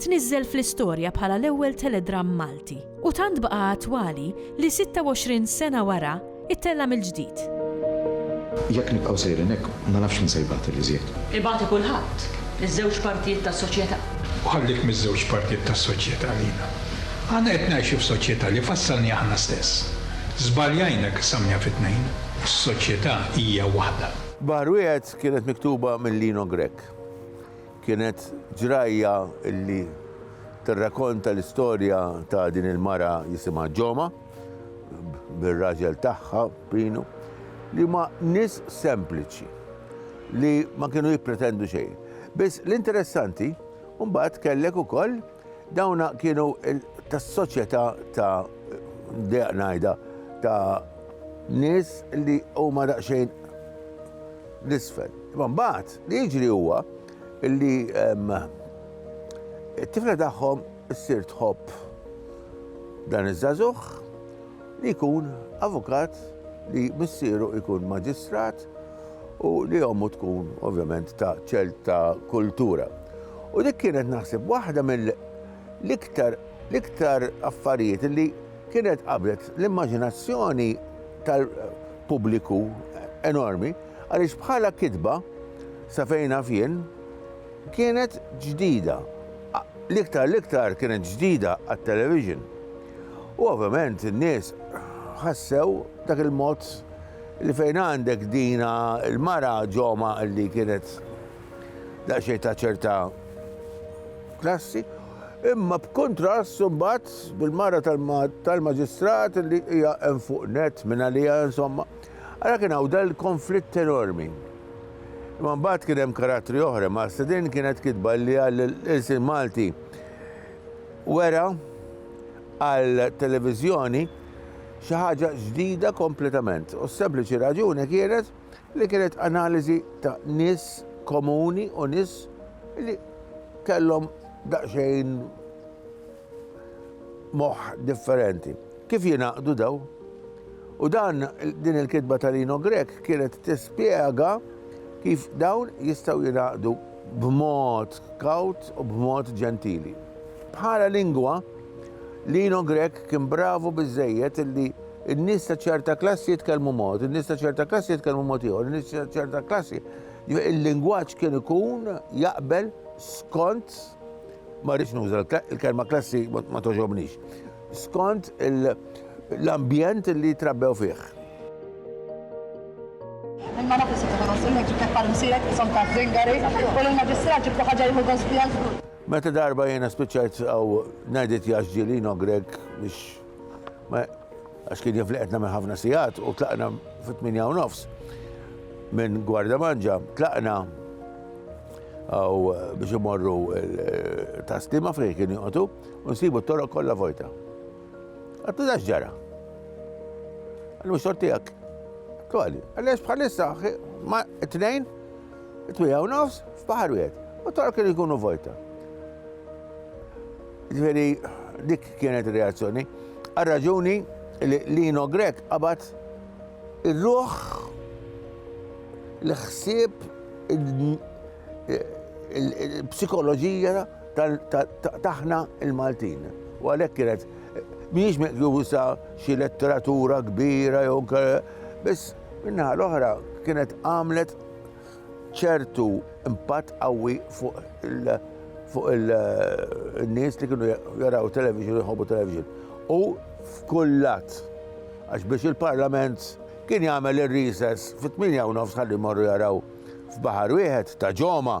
Tniżżel fl-istorja bħala l-ewwel teledramm Malti u tant baqa' attwali li 26 sena wara ittella' mill-ġdid. Jekk nibqgħu sejrin hekk, ma nafx min se jbati l-iżjed. Ibati kulħadd, iż-żewġ partijiet tas-soċjetà. U ħallih miż-żewġ partijiet tas-soċjetà għalina. Aħna qed ngħixu f'soċjetà li fassalni aħna stess. Żbaljajna qissamniha fi tnejn. Is-soċjetà hija waħda. Baħar Wieħed kienet miktuba minn Lino Grech. Kienet ġrajja li tirrakonta l-istorja ta' din il-mara jisimha Joma, bir-raġel tagħha Pino, li huma nies sempliċi li ma kienu jippretendu xejn. Biss l-interessanti mbagħad kellek ukoll, Dawna kienu tas-soċjetà ta' deq ngħidha ta' nies li huma daqsxejn l-isfel. Imma mbagħad li jiġri huwa li ehm, it-tifla tagħhom issir tħobb dan iż-żagħżugħ li jkun avukat li missieru jkun maġistrat u li ommu tkun ovvjament ta' ċerta kultura. U dik kienet naħseb waħda mill-iktar l-iktar affarijiet li kienet qabdet l-immaġinazzjoni tal-pubbliku enormi għaliex bħala kitba sa fejn naf jien kienet ġdida. L-iktar l-iktar kienet ġdida għat-television. U ovvjament in-nies ħassew dak il-mod li fejn għandek dina il-mara ġoma li kienet daqsxejn ta' ċerta klassi, imma b'kuntrast imbagħad bil-mara tal-maġistrat li hija hemm fuq net minn għalija insomma. Ara kien hawn dal konflitt enormi. Imma mbagħad kien hemm karattri oħra, ma' din kienet kitba li għall-ilsien Malti wera għal televiżjoni xi ħaġa ġdida kompletament u s-sempliċi raġuni kienet li kienet analiżi ta' nies komuni u nies li kellhom daqsxejn moħħ differenti. Kif jingħaqdu daw? U dan din il-kitba tal-Ino Grek kienet tispjega kif dawn jistgħu jingħaqdu b'mod kawt u b'mod ġentili. Bħala lingwa, l-Ino Grech kien bravu biżżejjed illi n-nies ta' ċerta klassi jitkellmu mod, in-nies ta' ċerta klassi jitkellmu mod ieħor, in-nies ta' ċerta klassi. Jiġifieri il-lingwaġġ kien ikun jaqbel skont ma rridx nuża l-kelma klassi ma togħġobnix. skont l-ambjent li trabbew fih. Imma nafu se tkun għosul li ġibtek bħal msirek isom ta' zingari u l-maġistrat ġibtu ħaġa jħu għospijan. Meta darba jena spiċajt għaw najdit jaxġili no Greg biex għax kien jifliqetna minn ħafna sijat u tlaqna fit-8 u nofs minn gwarda manġa tlaqna għaw biex imorru taslima fejn kien joqtu U nsibu t-toroq kollha vojta. Għattu dax ġara. Għallu mux tortijak. Tuħali, għallex bħalissa ma t-tnejn, t-twija u nofs, f'bahar wieħed. U toroq kienu jkunu vojta. Ġveri, dik kienet reazzjoni. Għal-raġuni li Lino Grek qabat il-ruħ l-ħsieb il-psikoloġija taħna il-Maltin. U għalhekk kienet mhijiex meqjusa xi letteratura kbira jew biss minna l-oħra kienet għamlet ċertu impatt qawwi fuq il- fuq il-nies li kienu jaraw television, jħobu television. U f'kullat, għax biex il-parlament kien jagħmel ir-rises fit-8 u nofs ħalli morru jaraw f'baħar wieħed ta' ġoma.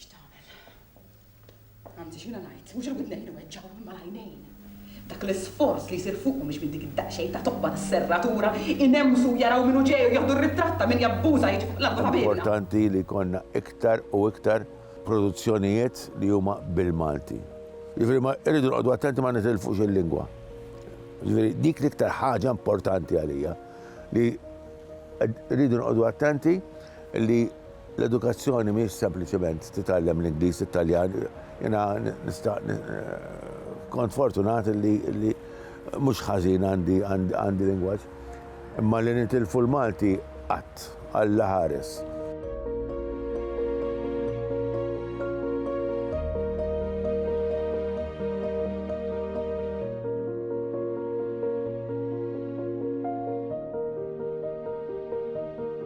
X'tagħmel? Anzi x'ina ngħid, mhux il-widnejn iweġġgħu imma l-għajnejn. Dak l-isforz li jsir fuqhom biex minn dik id-daqsxejn ta' tobba tas-serratura inemsu jaraw min hu ġej u jieħdu r-ritratt ta' min jabbuża jiġi fuq l-art ta' ħabiebna. Importanti li jkollna iktar u iktar produzzjonijiet li huma bil-Malti. Jiġifieri ma irridu noqogħdu attenti ma nitilfux il-lingwa. Jiġifieri dik l-iktar ħaġa importanti għalija li rridu noqogħdu attenti li L-edukazzjoni mhijiex sempliċement titgħallem l-Ingliż, it-Taljan. Jiena nista' kont fortunat li mhux ħażin għandi għandi lingwaġġ. Imma li nitilfu l-Malti qatt Alla ħares.